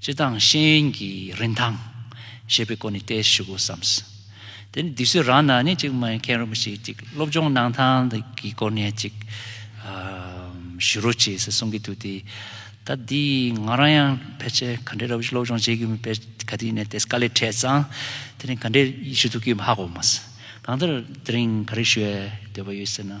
སྤྱི་དང་གཤེན་གྱི་རིན་ཐང། ཞེས་པའི་སྐོར་ནས་བལྟས་ཞུ་དགོས་བསམས། དེ་ནས་དུས་ཚོད་རག་ན་ནི་ཅིག་མཁན་རིན་པོ་ཆེ་ཅིག་སློབ་སྦྱོང་གནང་སྟངས་དེ་གི་སྐོར་ནས་ཅིག་ཞུ་རོགས་བྱས་ཟེར་གསུང་གི་འདུག་དེ་ད་དེ་ང་རང་ཡང་ཕལ་ཆེར་ག་འདྲའི་ར་བུ་ཞིག་སློབ་སྦྱོང་བྱེད་ཀྱི་ཕལ་ག་དུས་ནས་དེ་དཀའ་ལས་འཕྲད་ཙང་དེ་ནས་ག་འདྲའི་ཞུ་ཐུབ་ཀྱི་ཧ་གོ་མ་སོང་གང་ལྟར་དེ་རིང་ག་རེ་ཞུ་བའི་འདོད་པ་ཡོད་ཟེར་ན།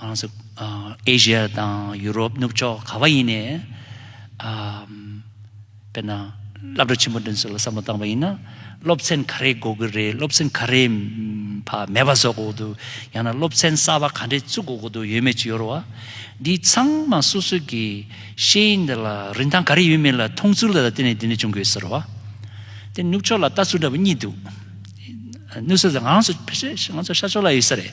གང་སུ་ཨེ་ཤི་ཡ་དང་ཡུ་རོབ་ནུབ་ཕྱོགས་ག་བ་ཡིན་ནས་དཔེར་ན་བླ་བྲེ་ཆེན་པོ་འདོན་ཚུལ་ལ་བསམ་བློ་བཏང་བ་ཡིན་ན་སློབ་ཚན་ག་རེ་འགོ་དགོས་རེད་སློབ་ཚན་ག་རེ་བག་མེད་པ་བཟོ་དགོས་འདུག་ཡང་ན་སློབ་ཚན་གསར་བ་ག་འདྲེ་བཙུགས་དགོས་ཀྱི་འདུག་ཡོད་མེད་ཅི་ཡོད་རོ་འདི་ཚང་མ་སོ་སོ་གི་ཤེས་ཡིན་འདི་ལ་རིན་ཐང་ག་རེ་ཡོད་མེད་ལ་མཐོང་ཚུལ་ལ་བརྟེན་ནས་དེ་འདྲ་བྱུང་དགོས་ཟེར་རོ་དེ་ནུབ་ཕྱོགས་ལ་ལྟ་ཚུལ་འདྲ་བོ་གཉིས་འདུག་ནུབ་ས་ང་ཚོ་ཤར་ཕྱོགས་ལ་ཡོད་ས་རེད།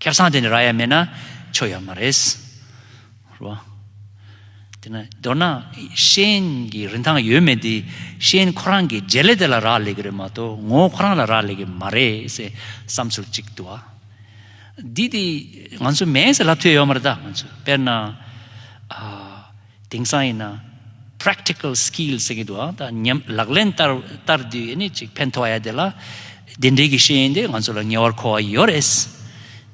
ཁྱབ་སངས་དེ་ནི་ར་ཡ་མེད་ན་ཆོ་ཡ་མ་རེད། དེ་ནི་མདོར་ན་ཤེས་ཡོན་གྱི་རིན་ཐང་ཡོད་མེད་དེ་ཤེས་ཡོན་ཁོ་རང་གི་རྗེས་ལས་དེ་ལ་རག་ལས་ཀྱི་རེད་མ་གཏོགས་ངོ་བོ་ཁོ་རང་ལ་རག་ལས་ཀྱི་མ་རེད་ཟེར་བསམ་ཚུལ་གཅིག་འདུག་ཨ། འདི་དེ་ང་ཚོ་མེད་ཟེར་ལབ་ཐུབ་ཡོད་མ་རེད་ད་ང་ཚོས་དཔེར་ན། དེང་སང་ཡིན་ན། Practical Skills ཟེར་གྱི་འདུག་ཨང་ད་ཉམས་ལག་ལེན་བསྟར་དུས་ནི་ཅིག་ཕན་ཐོགས་ཡ་དེ་ལ། དེ་འབྲེལ་གྱི་ཤེས་ཡོན་དེ་ང་ཚོ་ལ་ངེས་བར་མཁོ་བ་ཡོད་རེད།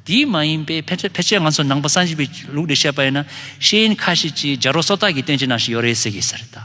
དེ་མ་ཡིན་པའི་ཕལ་ཆེར་ང་ཚོ་ནང་པ་སངས་རྒྱས་པའི་ལུགས་ལས་བཤད་པ་ཡིན་ན་ཤེས་ཡོན་ཁ་ཤས་ཅིག་སྦྱར་བ་སོ་ཐག་གི་སྟོན་བྱེད་ནང་ཞིག་ཡོད་རེད་ཟེར་གྱི་ཟེར་ད།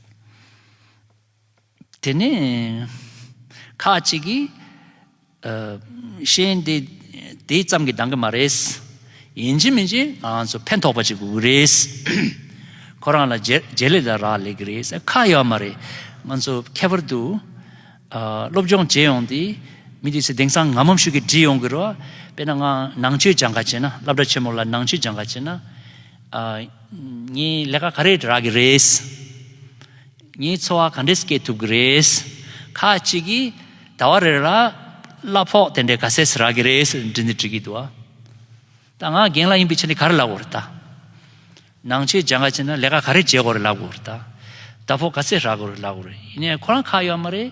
དེ་ནས་ཁ་ཅིག་གིས། གཤེན་དེ་དེ་ཙམ་གྱིས་འདང་གི་མ་རེད། ཡིན་གཅིག་མིན་གཅིག་ང་ཚོ་ཕན་ཐོགས་པ་ཅིག་དགོས་ཀྱི་རེད། ཁོ་རང་ལ་རྗེས་ལུས་ལ་རག་ལས་ཀྱི་རེད། ཁ་ཡོད་མ་རེད། ང་ཚོ་ཁྱད་པར་དུ། སློབ་སྦྱོང་བྱེད་ཡོང་དུས་མི་དེ་ཚོས་དེང་སང་ངམ་ངམ་ཤུགས་ཀྱིས་འདྲི་ཡོང་གི་རེད། དཔེར་ན་ངའང་ནང་ཆོས་སྦྱང་ག་བྱེད་ན་བླ་བྲ་ཆེན་མོ་ལ་ནང་ཆོས་སྦྱང་ག་བྱེད་ན། ངའི་ལས་ཀ་ག་རེ་རག་གི་རེད། ངའི་འཚོ་བ་ག་འདྲས་སྐྱེལ་ཐུབ་གི་རེད། ཁ་ཅིག་གིས་ཟླ་བ་རེ་རེར་གླ་ཕོགས་དེ་འདྲས་ག་ཚད་རག་གི་རེད་ཟེར་འདྲི་འདི་འདྲི་གི་འདུག་ཨ། ད་ང་རྒན་ལགས་ཡིན་པའི་ཕྱིར་འདི་ག་རེ་ལབ་དགོས་རེད་ད། ནང་ཆོས་སྦྱང་ག་བྱས་ན་ལས་ཀ་ག་རེ་བྱེད་དགོས་རེད་ལབ་དགོས་རེད་ད། ཟླ་ཕོགས་ག་ཚད་རག་དགོས་རེད་ལབ་དགོས་རེད་ཡིན་ནའི་ཁོ་རང་ཁ་ཡོད་མ་རེད།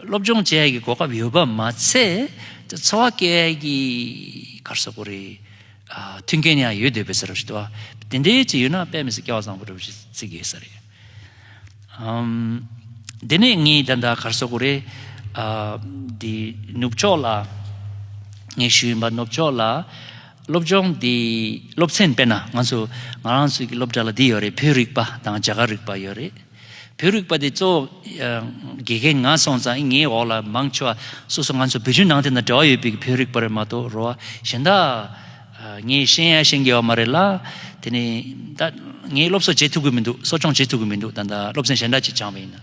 སློབ་སྦྱོང་བཅས་ཀྱི་གོ་སྐབས་ཡོད་པ་མ་ཚད་འཚོ་བ་སྐྱེལ་བའི་སྐར་གསོག་གོ་རེ་མཐུན་རྐྱེན་ཡང་ཡོད་འདོད་པའི་ཟེར་བ་ཞིག་དུ་དེ་འདྲའི་ཅིག་ཡོད་ན་དཔེ་མི་སྲིད་སྐལ་བ་བཟང་པོ་འགྲོ་བ་ཞིག་བརྩི་དགོས་ས་རེད། དེ་ནས་ངས་ད་ལྟ་སྐར་གསོག་གོ་རེ་འདི་ནུབ་ཕྱོགས་ལ་ངའི་ཤུལ་ཡིན་པ་ནུབ་ཕྱོགས་ལ་སློབ་སྦྱོང་འདི་སློབ་ཚན་དཔེར་ན་ང་ཚོ་ང་རང་ཚོའི་སློབ་གྲྭ་ལ་འདི་ཡོད་རེད་བོད་རིག་པ་དང་རྒྱ་གར་རིག་པ་ཡོད་རེད། བོད་རིག་པ་དེ་གཙོ་བོ་དགེ་རྒན་ང་སོང་ཙང་ངའི་འོག་ལ་མང་ཆེ་བ་སོ་སོ་ང་ཚོ་བོད་བརྒྱུད་ནང་བསྟན་དང་འབྲེལ་བ་ཡོད་པའི་བོད་རིག་པ་རེད་མ་གཏོགས་རོ་གཞན་དག་ངས་ཤེས་ཡ་ཤེས་འགལ་བ་མ་རེད་ལ་དེ་ནས་ད་ངས་སློབ་གསོ་བྱེད་ཐུབ་གི་མི་འདུག་གསོ་སྐྱོང་བྱེད་ཐུབ་གི་མི་འདུག་ད་སློབ་ཚན་གཞན་འདྲ་ཅིག་སྦྱངས་པ་ཡིན་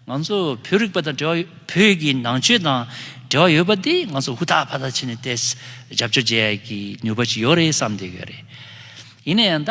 ང་ཚོ་བོད་རིག་པ་དང་འབྲེལ་བ་བོད་ཀྱི་ནང་ཆོས་དང་འབྲེལ་བ་ཡོད་པ་དེ་ང་ཚོ་ཧུར་ཐག་ཕར་ཐག་བྱས་ནས་ཏེས་རྒྱབ་སྐྱོར་བྱེད་ཡ་ཡི་གི་ནུས་པ་ཅིག་ཡོད་རེད་བསམ་འདོད་ཡོད་རེད་ཡིན་ན་ཡང་ད།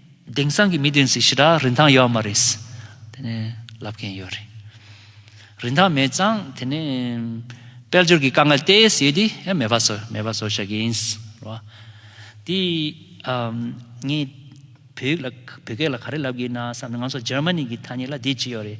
དེང་སང་གི་མི་དེ་ཚོས་ཞི་དྲག་རིན་ཐང་ཡོད་མ་རེད་དེ་ནས་ལབ་མཁན་ཡོད་རེད། རིན་ཐང་མེད་ཙང་དེ་ནས་དཔལ་འབྱོར་གྱི་དཀའ་ངལ་དེ་སེལ་དུས་ཡང་མེད་པ་བཟོ་མེད་པ་བཟོ་ཤག་ཡིན་རེད་བ། དེ་ངས་བོད་ཡིག་ལ་བོད་སྐད་ལ་ག་རེ་ལབ་དགོས་ན་བསམ་ནས་ང་ཚོ་ཇར་མ་ནི་གི་ཐ་སྙད་ལ་དེ་བྱས་ཡོད་རེད།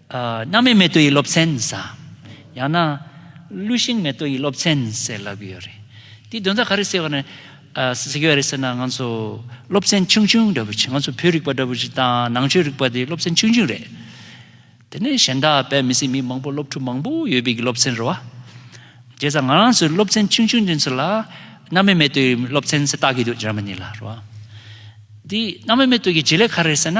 སྣང་མེད་མེ་ཏོག་ཡིད་སློབ་ཚན་ཟ། ཡང་ན། ཀླུ་ཤིང་མེ་ཏོག་ཡིད་སློབ་ཚན་ཟེར་ལབ་ཡོད་རེད། དེའི་དོན་རྩ་ག་རེ་ཟེར་བ་ནི། ཟེར་གྱི་བ་རེད་ཟེར་ན་ང་ཚོ་སློབ་ཚན་ཆུང་ཆུང་འདྲ་བོ་ཞིག་ང་ཚོ་བོད་རིག་པ་འདྲ་བོ་ཞིག་དང་ནང་ཆོས་རིག་པ་དེ་སློབ་ཚན་ཆུང་ཆུང་རེད། དེ་ནས་གཞན་དག་བོད་མི་སེར་མི་མང་པོ་སློབ་ཕྲུག་མང་པོ་ཡོད་པའི་གི་སློབ་ཚན་རེད་བ། རྗེས་དང་ང་རང་ཚོའི་སློབ་ཚན་ཆུང་ཆུང་འདི་ཚོ་ལ། སྣང་མེད་མེ་ཏོག་ཡིད་སློབ་ཚན་ཟེར་བཏགས་གི་འདུག་ཇར་མ་ནི་ལ་རེད་བ། དེའི་སྣང་མེད་མེ་ཏོག་གི་བྱེད་ལས་ག་རེ་རེད་ཟེར་ན།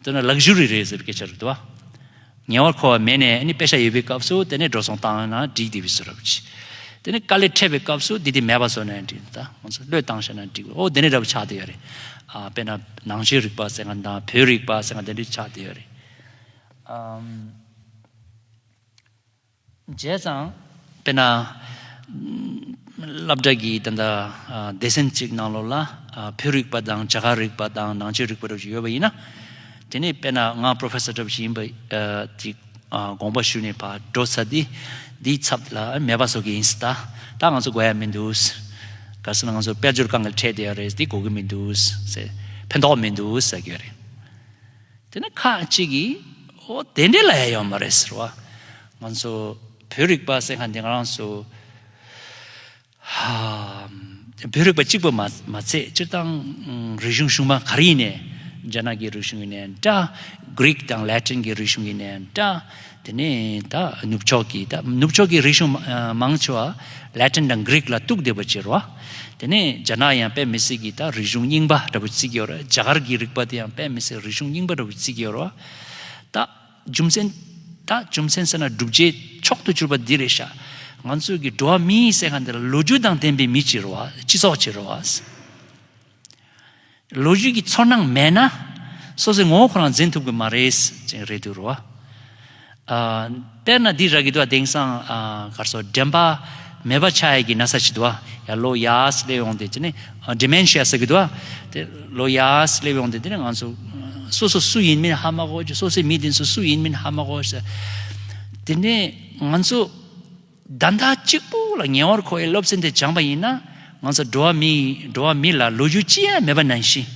བསྟོད་ན་ལག་བཞུར་རེ་རེ་ཟེར་བའི་སྐད་ཆ་རེད་དོ། ཉེ་བར་མཁོ་བ་མེད་ནས་ནི་དཔེ་ཆ་ཡོད་པའི་སྐབས་སུ་དེ་ནས་འགྲོ་སོང་བཏང་ན་འགྲིག་དེ་བས་སུ་རབ་ཆེ། དེ་ནི་དཀའ་ལས་འཕྲད་པའི་སྐབས་སུ་དེ་དེ་མེད་པ་བཟོ་ནས་འགྲིག་ད་ང་ཚོ་བློས་བཏང་བྱས་ན་འགྲིག་བས་ཨོ་དེ་ནི་རབ་ཆགས་དེ་ཡོད་རེད། དཔེར་ན་ནང་ཆོས་རིག་པ་ཟེར་ན་དང་བོད་རིག་པ་ཟེར་ན་དེ་འདྲའི་ཆགས་དེ་ཡོད་རེད། བྱས་ཙང། དཔེར་ན། སླབ་གྲགས་ཀྱིས་ད་ལྟ་སྡེ་ཚན་གཅིག་ནང་ལོགས་ལ་བོད་རིག་པ་དང་བྱ་གག་རིག་པ་དང་ནང་ཆོས་རིག་པ་སྒྲུབ་བྱེད་ཡོད་པ་ཡིན་ན། དེ་ནས་དཔེར་ན་ང Professor སྒྲུབ་བྱེད་ཡིན་པ་དེ་དགོངས་པ་ཞུས་ནས་བགྲོ་ཚར་དུས་དེའི་ཚབ་ལ་མེད་པ་བཟོ་གི་ཡིན་སྲིད་ད་ད་ང་ཚོ་དགོས་ཡ་མི་འདུག་ག་སྲིད་ན་ང་ཚོ་དཔལ་འབྱོར་གང་གི་ཁྲལ་དེ་ཡ་རེད་དེ་དགོས་ཀྱི་མི་འདུག་ཕན་ཐོག་མི་འདུག་ཟེར་གྱི་ཡོད་རེད། དེ་ནས་ཁ་ཅིག་གིས་འོ་དེ་འདྲས་ལ་ཡ་ཡོད་མ་རེད་ཟེར་བ། ང་ཚོ་བོད་རིག་པ་ཟེར་མཁན་དེ་ང་རང་ཚོ་བོད་རིག་པ་གཅིག་པུ་མ་ཚད་སྤྱིར་བཏང་རིག་གཞུང་ཞུགས་མ་ག་རེ་ཡིན་ནས་རྒྱ་ནག་གི་རིག་གཞུང་ཡིན་ནས་འདྲ། Greek དང Latin གྱི་རིག་གཞུང་ཡིན་ནས་འདྲ། དེ་ནས་ད་ནུབ་ཕྱོགས་ཀྱི་ད་ནུབ་ཕྱོགས་ཀྱི་རིག་གཞུང་མང་ཆེ་བ Latin དང Greek ལ་གཏུགས་བསྡད་པ་གཅེར་བ། དེ་ནས་རྒྱ་ནག་ཡང་པད་མི་སེར་གྱི་ད་རིག་གཞུང་རྙིང་པ་འདྲ་བུ་བརྩི་གི་ཡོད་རེད་རྒྱ་གར་གྱི་རིག་པ་དེ་ཡང་པད་མི་སེར་རིག་གཞུང་རྙིང་པ་འདྲ་བུ་བརྩི་གི་ཡོད་རེད། ད་རྒྱུ་མཚན་ད་རྒྱུ་མཚན་ཟེར་ན་བསྒྲུབ་བྱའི་མཆོག་ཏུ་གྱུར་པ་འདི་རེད་ཤག་ང་ཚོའི་གི་འགྲོ་བ་མིའི་སེ་ག་འདི་ལ་ལོ་རྒྱུས་དང་ལྡན་པའི་མི་གཅེར་བ་སྤྱི་ཚོགས་གཅེར་བ། ལོ་རྒྱུས་ཀྱི་ཚོར་སྣང་མེད་ན། སོ་སོའི་ངོ་བོ་ཁོ་རང་འཛིན་ཐུབ་གི་མ་རེད། རེད་འདུག་རོ། དཔེར་ན་འདི་ར་གི་དུ་བ་དེང་སང་གར་སོ་དྲན་པ་མེད་པ་ཆགས་ཡས་ཀྱི་ན་ས་ཅིག་དུ་བ་ཡ་ལོ་ཡ་སླེབས་ཡོང་སྟེ་ཅི་ནས Dementia ཟེར་གི་དུ་བ་དེ་ལོ་ཡ་སླེབས་ཡོང་སྟེ་དེ་ནས་ང་ཚོ་སོ་སོ་སུ་ཡིན་མིན་ཧ་མ་གོ་སོ་སོའི་མི་དེ་ཚོ་སུ་ཡིན་མིན་ཧ་མ་གོ། དེ་ནས་ང་ཚོ། བདག་མཐའ་གཅིག་པུ་ལ་ཉེ་བར་མཁོ་བའི་སློབ་ཚན་དེ་སྦྱངས་པ་ཡིན་ན་ང་ཚོ་འགྲོ་བ་མི་འགྲོ་བ་མི་ལ་ལོ་རྒྱུས་ཅི་ཡང་མེད་པ་ནང་བཞིན།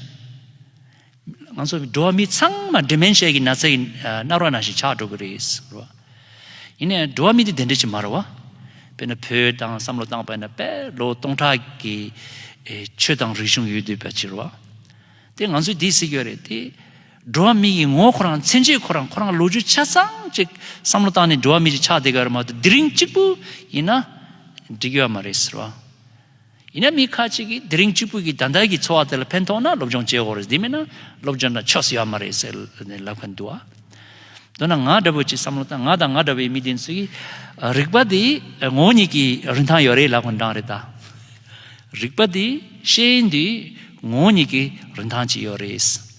ང་ཚོ་འགྲོ་བ་མི་ཚང་མ Dementia གི་ན་ཚ་ཡི་རྣག་རོ་ནང་བཞིན་ཆགས་འགྲོ་གི་རེད་རོ། ཡིན་ནའི་འགྲོ་བ་མི་དེ་དེ་འདྲ་ཅིག་མ་རེད་བ། དཔེར་ན་བོད་དང་བསམ་བློ་བཏང་པས་ན་དཔལ་ལོ་སྟོང་ཕྲག་གི་ཆོས་དང་རིག་གཞུང་ཡོད་དུས་པ་ཅིག་རེད་བ། དེ་ང་ཚོས་དེ་སྲིད་ཡོད་རེད་དེ། འགྲོ་བ་མི་ཡི་ངོ་ཁོ་རང་མཚན་ཆེད་ཁོ་རང་ཁོ་རང་ལོ་རྒྱུས་ཆ་ཚང་གཅིག་བསམ་བློ་བཏང་ནས་འགྲོ་བ་མི་རིགས་ཆགས་བསྡད་ག་རེ་མ་གཏོགས་དེ་རིང་གཅིག་པུ་ཡིན་ན་འགྲིག་གི་ཡོད་མ་རེད་ཟེར་བ། ཡིན་ན་མི་ཁ་ཅིག་གིས་དེ་རིང་གཅིག་པུ་གི་ད་ལྟ་གི་འཚོ་བ་དེ་ལ་ཕན་ཐོགས་ན་སློབ་སྦྱོང་བྱེད་འོག་རེད་དེ་མིན་ན་སློབ་སྦྱོང་དང་ཆོས་སུ་ཡོད་མ་རེད་ཟེར་ནས་ལབ་གི་འདུག་ཨ། མདོར་ན་ང་འདྲ་བོ་ཅིག་བསམ་བློ་བཏང་ང་དང་ང་འདྲ་བའི་མི་དེ་ཚོའི་རིག་པ་དེ་ངོ་བོ་ཉིད་ཀྱི་རིན་ཐང་ཡོད་རེད་ལབ་གི་འདྲ་རེད་ད། རིག་པ་དེ་ཤེས་ཡོན་དེ་ངོ་བོ་ཉིད་ཀྱི་རིན་ཐང་ཅིག་ཡོད་རེད།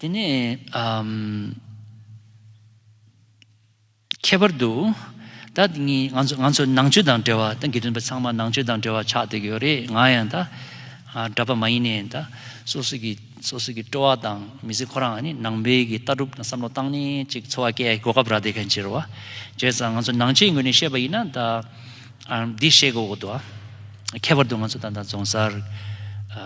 དེ་ནས། ཁྱད་པར་དུ། ད་ནི་ང་ཚོ་ནང་ཆོས་དང་འབྲེལ་བ་ཏང་གི་རིམ་པ་ཚང་མ་ནང་ཆོས་དང་འབྲེལ་བ་ཆགས་བསྡད་ཀྱི་ཡོད་རེད་ང་ཡང་ད་གྲྭ་པ་མ་ཡིན་ནའི་ད་སོ་སོ་ཀྱི་སོ་སོ་ཀྱི་སྤྲོ་བ་དང་མི་ཚེ་ཁོ་རང་ནི་ནང་པའི་ཀྱི་ལྟ་གྲུབ་དང་བསམ་བློ་བཏང་ནས་ཅིག་འཚོ་བ་སྐྱལ་གོ་སྐབས་རག་བསྡད་མཁན་ཕྱིར་རོ། བྱས་ཙང་ང་ཚོ་ནང་ཆོས་ངོས་ནས་བཤད་པ་ཡིན་ན་ད། འདི་བཤད་དགོས་དགོས་འདུག་ཨ། ཁྱད་པར་དུ་ང་ཚོ་ད་ལྟ་རྫོང་གསར།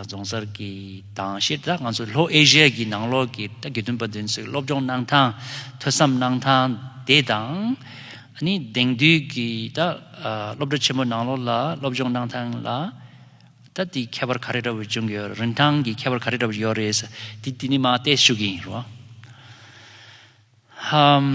རྫོང་གསར་གྱི་དང་ཕྱིར་ད་ང་ཚོ་ལྷོ་ཨེ་ཤི་ཡ་གྱི་ནང་ལོགས་ཀྱི་ད་དགེ་འདུན་པ་བདུན་ཚོའི་སློབ་སྦྱོང་གནང་སྟངས་ཐོས་བསམ་གནང་སྟངས་དེ་དང། ནི་དེང་དུས་ཀྱི་ད་སློབ་གྲྭ་ཆེན་མོ་ནང་ལོགས་ལ་སློབ་སྦྱོང་གནང་སྟངས་ལ་ད་དེའི་ཁྱད་པར་ག་རེ་འདྲ་བོ་བྱུང་གི་ཡོད་རིན་ཐང་གི་ཁྱད་པར་ག་རེ་འདྲ་བོ་ཡོད་རེད་ཟེར་དེ་ནི་མ་བལྟས་ཞུ་གི་ཡིན་རོ། ཧཧཧ།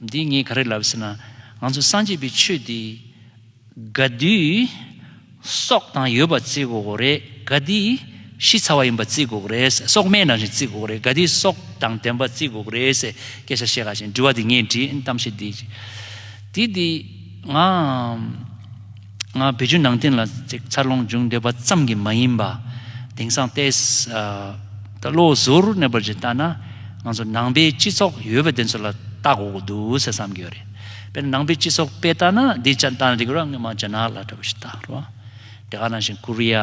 འདི་ངས་ག་རེ་ལབ་ཟེར་ན། ང་ཚོ་སངས་རྒྱས་པའི་ཆོས་འདི། དགའ་བདེའི། སྲོག་དང་ཡོད་པ་བརྩི་དགོས་རེད། དགའ་བདེའི། ཤི་ཚར་བ་ཡིན་པ་བརྩི་དགོས་རེད། སྲོག་སྨན་རང་བཞིན་བརྩི་དགོས་རེད། དགའ་བདེའི་སྲོག་དང་ལྡན་པ་བརྩི་དགོས་རེད། སྐད་ཆ་བཤད་ག་བཞིན་དྲི་བ་འདི་ངས་དྲིས། གཏམ་བཤད་འདི། འདི། ང། ང་བོད་བརྒྱུད་ནང་བསྟན་ལ་ཅིག་ཚར་ལོངས་འབྱུང་འདོད་པ་ཙམ་གྱིས་མ་ཡིན་པ། དེང་སང་ལྟས་ད་བློ་གཟུར་གནས་པར་གྱིས་བལྟ་ན་ང་ཚོ་ནང་པའི་སྤྱི་ཚོགས་ཡོད་པ་དེ་ཚོ་ལ་བལྟ་དགོས་ཀྱི་འདུག་ཟེར་བསམ་གྱི་ཡོད་རེད། དཔེར་ན་ནང་པའི་སྤྱི་ཚོགས་དཔེ་བལྟ་ན་འདི་ཅག་བལྟ་ན་འགྲིག་གི་རོ་ང་རྒྱ་ནག་ལ་འདྲ་བོ་ཞིག་བལྟ་རོགས། དེ་ག་ནང་བཞིན་ཀོ་རི་ཡ།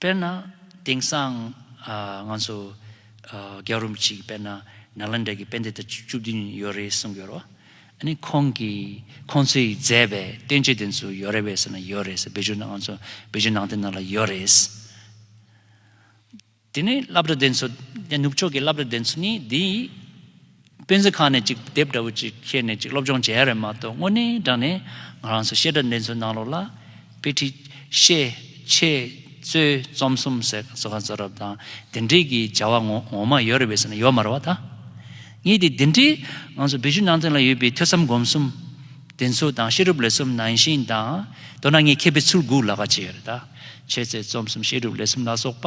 དཔེར་ན། དེང་སང་ང་ཚོ་རྒྱ་རུམ་ཅིག་དཔེར་ན་ནཱ་ལནྡྲ་གི་དཔེ་འདི་ལྟར་བཅུ་བདུན་ཡོད་རེད་གསུངས་ཀྱི་རོ། ཨཱ་ཁོང་གི་ཁོང་ཚོས་མཛད་པའི་སྟོན་བྱེད་དེ་ཚོ་ཡོད་རེད་བས་ཟེར་ན་ཡོད་རེད་ཟེར་བོད་ཆུ་ནང་ང་ཚོ་བོད་ཆུ་ནང་དེ་ནང་ལ་ཡོད་རེད། དེ་ནས་བླ་བྲ་དེ་ཚོ་ནུབ་ཕྱོགས་ཀྱི་བླ་བྲ་དེ་ཚོ་ནི་འདིའི་སྤེན་ཚེ་ཁང་ནས་ཅིག་དེབ་འདྲ་བོ་ཅིག་ཁྱེར་ནས་ཅིག་སློབ་སྦྱོང་བྱས་ཡ་རེད་མ་གཏོགས་དངོས་གནས་དྲང་ནས་ང་རང་ཚོ་བཤད་གྲྭ་འདི་ཚོའི་ནང་ལོགས་ལ། དཔེ་ཁྲིད། བཤད། འཆད། རྩོད། རྩོམ་གསུམ་ཟེར་ག་གཙོ་ག་གཙོ་རབ་དང་དེ་འདྲས་ཀྱི་བྱ་བ་ངོ་ངོ་མ་ཡོད་རེད་བས་ཟེར་ན་ཡོད་མ་རེད་བ་ད། ངས་དེ་འདི་འདྲས་ང་ཚོ་བི་ཇུ་ནང་སྟེང་ལ་ཡོད་པའི་ཐོས་བསམ་སྒོམ་གསུམ། དེ་ཚོ་དང་བཤད་སྒྲུབ་ལས་གསུམ་ནང་བཞིན་དང་མདོར་ན་ངས་མཁས་པའི་ཚུར་འགུགས་ལ་ག་བྱས་ཡོད་རེད་ད། འཆད་རྩོད་རྩོམ་གསུམ་བཤད་སྒྲུབ་ལས་གསུམ་ལ་སོགས་པ།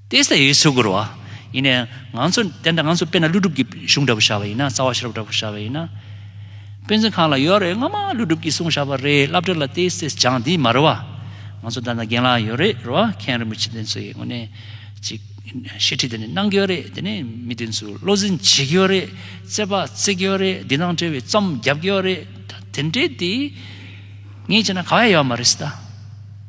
ཏེ་སྟེ་ཡེ་སུ་གུར་བ། ཡིན་ནའི། ང་ཚོ་དེ་འདྲ་ང་ཚོ་དཔེར་ན་ཀླུ་སྒྲུབ་ཀྱི་གཞུང་འདྲ་པོ་བཞག་པ་ཡིན་ན་རྩ་བ་ཤེས་རབ་འདྲ་པོ་བཞག་པ་ཡིན་ན། དཔེ་མཚོན་གང་ལ་ཡོད་རེད་སྔོན་མ་ཀླུ་སྒྲུབ་ཀྱིས་གསུངས་བཞག་པ་རེད་བསླབ་བྲལ་ལ་ཏེ་སྟེ་སྦྱངས་འདི་མ་རེད་བ། ང་ཚོ་ད་ནང་རྒན་ལགས་ཡོད་རེད་རེད་བ་མཁན་རིན་པོ་ཆེ་འདི་ཚོ་ཡི་ངོ་ནས་ཅིག་བཤད་ཁྲིད་དེ་ནི་གནང་གི་ཡོད་རེད་དེ་ནི་མི་དེ་ཚོ་བློ་འཛིན་བྱེད་ཀྱི་ཡོད་རེད་རྩེད་པ་རྩེད་ཀྱི་ཡོད་རེད་འདི་ནང་བྲེལ་བའི་རྩོམ་བརྒྱབ་ཀྱི་ཡོད་རེད་ད་དེ་འདྲས་དེ་ངས་བྱས་ན་ག་བས་ཡོད་མ་རེད་ད།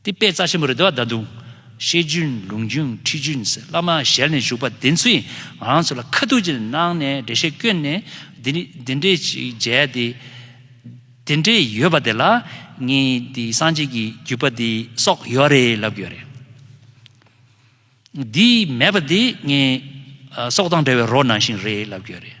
འདི་དཔེ་རྩ་ཆེན་པོ་རེད་དོ་ད་དུང། བཤད་རྒྱུན་ལུང་རྒྱུན་ཁྲིད་རྒྱུན་ཟེར་བླ་མ་ཞལ་ནས་བཞུགས་པ་དེ་ཚོས་ང་རང་ཚོ་ལ་ཁ་ཐུག་ཅིག་གནང་ནས་འགྲེལ་བཤད་བསྐྱོན་ནས་འདི་འདྲས་ཅིག་མཇལ་ཏེ། དེ་འདྲས་ཡོད་པ་དེ་ལ་ངས་འདི་སངས་རྒྱས་ཀྱི་བརྒྱུད་པ་འདི་སོགས་ཡོད་རེད་ལབ་དགོས་རེད། འདི་མེད་པ་དེ་ངས་སྲོག་དང་འདྲ་བའི་རོ་ནང་བཞིན་རེད་ལབ་དགོས་རེད།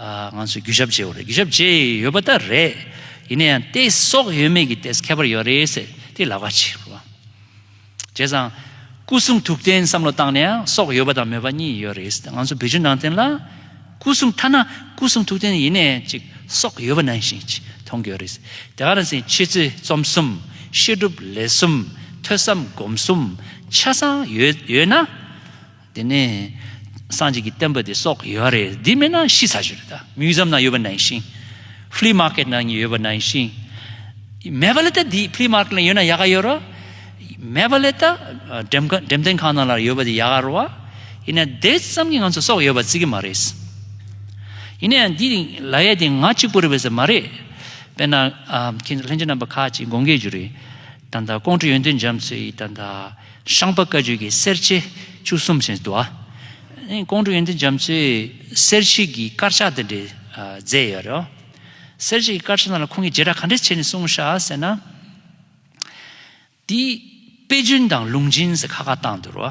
ང་ཚོས་རྒྱུ་ཞབས་བརྗེས་བ་རེད་རྒྱུ་ཞབས་བརྗེས་ཡོད་པ་ད་རེད་ཡིན་ན་ཡང་ཏེ་སྲོག་ཡོད་མེད་ཀྱི་ཏེས་ཁྱད་པར་ཡོད་རེད་ཟེར་དེ་ལབ་ཁ་ཆེ་རེད་བ། བྱས་ཙང། སྐུ་གསུང་ཐུགས་རྟེན་བསམ་བློ་བཏང་ནས་ཡང་སྲོག་ཡོད་པ་དང་མེད་པ་གཉིས་ཡོད་རེད་ཟེར་ང་ཚོ་བོད་བརྒྱུད་ནང་བསྟན་ལ། སྐུ་གསུང་ཐ་ན་སྐུ་གསུང་ཐུགས་རྟེན་ཡིན་ནས་ཅིག་སྲོག་ཡོད་པ་ནང་བཞིན་ཅིག་མཐོང་གི་ཡོད་རེད་ཟེར་དེ་ག་རང་ཟེར་ཕྱི་ཚུལ་རྩོམ་གསུམ་བཤད་སྒྲུབ་ལས་གསུམ་ཐོས་བསམ་སྒོམ་གསུམ་ཆ་ཚང་ཡོད་ཡོད་ན། དེ་ནས་སངས་རྒྱས་ཀྱི་བསྟན་པ་དེ་སོགས་ཡོད་རེད་འདི་མེད་ན་ཤི་ཚར་ཞིག་རེད་ད Museum ནང་ཡོད་པ་ནང་བཞིན Flea Market ནང་ཡོད་པ་ནང་བཞིན་མེད་པ་ལས་ད་འདི Flea Market ནང་ཡོད་ན་ཡག་ག་ཡོད་རོ་མེད་པ་ལས་ད་འགྲེམས་སྟོན་ཁང་ནང་ལ་ཡོད་པ་དེ་ཡག་ག་རོ་བ་ཡིན་ན་དེ་ཙམ་གྱི་ང་ཚོ་སོགས་ཡོད་པ་རྩི་གི་མ་རེད་ཡིན་ན་ཡང་འདི་ལ་ཡ་དེ་ང་གཅིག་པུ་རེད་པ་ཟེར་མ་རེད་དཔེར་ན་ཁྱེད་ཚོ་ལྷན་རྒྱས་རྣམ་པ་ཁག་ཅིག་དགོངས་དགེ་བཅུ་རེད། ད་ལྟ་ཀོང་སྤྲུལ་ཡོན་ཏན་འཇམ་གསོལ་ཡིས་ད་ལྟ་ཤངས་པ་བཀའ་བརྒྱུད་ཀྱི་གསེར་ཕྱེ་བཅུ་གསུམ་ཅན་བསྡུ་བ། ཀོང་སྤྲུལ་ཡོན་ཏན་འཇམ་གསོལ་གསེར་ཕྱེ་ཀྱི་དཀར་ཆག་དེ་འདྲས་མཛད་ཡོད་རེད། གསེར་ཕྱེ་ཀྱི་དཀར་ཆག་རྣམས་ལ་ཁོང་གིས་རྗེས་གྲགས་ག་འདྲས་བྱས་ནས་གསུངས་ཤག་ཟེར་ན། དེའི་དཔེ་རྒྱུན་དང་ལུང་འབྱིན་ཟེར་ཁ་ཁ་བཏང་འདུག་རོ།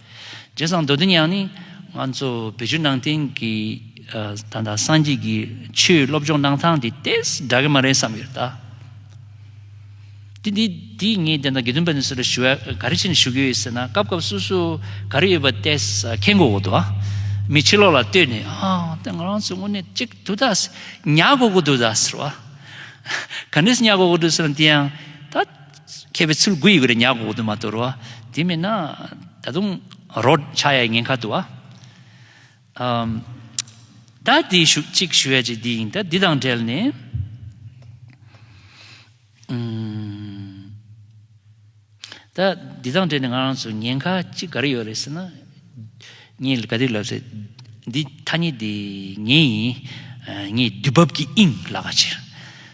རྗེ་བཟང་མདོ་འདི་ཉག་ནི་ང་ཚོ་བོད་བརྒྱུད་ནང་བསྟན་གྱི་ད་ལྟ་སངས་རྒྱས་ཀྱི་ཆོས་སློབ་སྦྱོང་གནང་སྟངས་དེ་ལྟས་འདྲ་གི་མ་རེད་བསམ་ཡོད། དེ་འདི་ངས་དེ་ལྟ་དགེ་འདུན་པ་ནས་སུ་ལ་ཞུ་བ་ག་རེ་བྱེད་ནས་ཞུ་གི་ཡོད་ཟེར་ན་སྐབས་སྐབས་སུ་སུ་ག་རེ་ཡོད་པ་ལྟས་ཁྱེད་མགོ་བོ་དོ་མི་ཕྱི་ལོག་ལ་ལྟོས་ནས་ཨ་ལྟས་ང་རང་ཚོ་དངོས་གནས་གཅིག་འདུག་ད་ཟེར་ཉག་མགོ་གོ་འདུག་ད་ཟེར་བ། ག་འདྲས་ཉག་མགོ་གོ་འདུག་ཟེར་ན་དེ་ཡང་ད། མཁས་པའི་ཚུལ་དགུ་ཡི་གུ་རེ་ཉག་གོ་དུ་མ་དོར་བ། དེ་མིན་ན་ད་དུང་རོ། ཕྱྭ་ཡའི་ངན་ཁ་དུ་བ། ད་དེ་ཞུ་ཅིག་ཞུ་ཡ་ཅིག་འདི་ཡིན་ད་འདི་དང་བྲལ་ནས། ད་འདི་དང་བྲལ་ནས་ང་རང་ཚོ་ཉེན་ཁ་ཅིག་ག་རེ་ཡོད་རེད་ཟེར་ན། ངས་ག་དུས་ལབ་ཚེ་འདི་ཐ་སྙད་འདི་ངའི་ཡིན། ངས་དུས་བབ་ཀྱི་དབྱིངས་ལག་ཁ་ཕྱིར།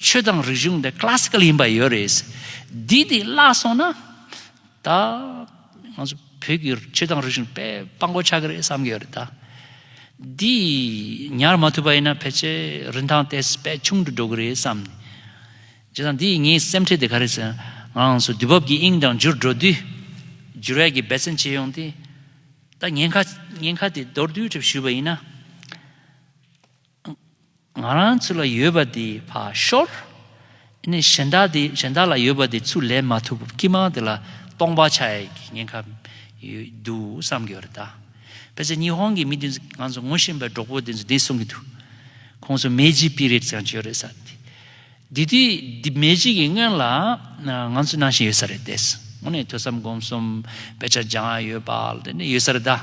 ཆོས་དང་རིག་གཞུང་འདི Classical ཡིན་པ་ཡོད་རེད། འདི་འདི་བརླག་སོང་ན། ད། ང་ཚོ་བོད་ཀྱི་ཆོས་དང་རིག་གཞུང་དཔེ་དཔང་པོ་ཆགས་ཀྱི་རེད་བསམ་གྱི་ཡོད་རེད་ད། འདི་ཉར་མ་ཐུབ་པ་ཡིན་ན་ཕལ་ཆེར་རིན་ཐང་དེ་བས་ཆུང་དུ་འགྲོ་གི་རེད་བསམ་ནས། བྱས་ཙང་འདི་ངའི་སེམས་ཁྲལ་དེ་ག་རེ་ཟེར་ན། ང་ཚོ་དུས་བབ་ཀྱི་དབྱིངས་དང་འཇུར་འགྲོ་དུས། འགྱུར་བས་ཀྱི་འབད་བརྩོན་བྱས་ཡོང་སྟེ། ད་ཉེན་ཁ་ཉེན་ཁ་དེ་མདོར་བསྡུས་གྲུབ་ཞུས་པ་ཡིན་ན། ང་རང་ཚོ་ལ་ཡོད་པ་དེ་བ་ཤོར། ནས་གཞན་དག་དེ་གཞན་དག་ལ་ཡོད་པ་དེ་ཚུར་ལེན་མ་ཐུབ་སྐྱིད་མང་དེ་ལ་སྟོང་པ་ཆགས་ཡས་ཀྱི་ཉེན་ཁ་ཡོད་འདུག་བསམ་གྱི་ཡོད་རེད་ད། དཔེར་ཟད་ཉི་ཧོང་གི་མི་དེ་ཚོ་ང་ཚོ་ངོ་ཤེས་པའི་གྲོགས་པོ་དེ་ཚོ་དེ་གསུང་གི་འདུག་ཁོང་ཚོ་མེ་ལྕི་སྤི་རེད་ཀྱང་བྱས་ཡོད་རེད་ས་དེ། དེ་དུས་དེ་མེ་ལྕི་གི་སྔོན་ལ་ང་ཚོ་ནང་བཞིན་ཡོད་ས་རེད་དེ། ངོ་ནས་ཐོས་བསམ་སྒོམ་གསུམ་དཔེ་ཆ་སྦྱང་ཡོད་པ་ལ་དེ་ནས་ཡོད་ས་རེད་ད།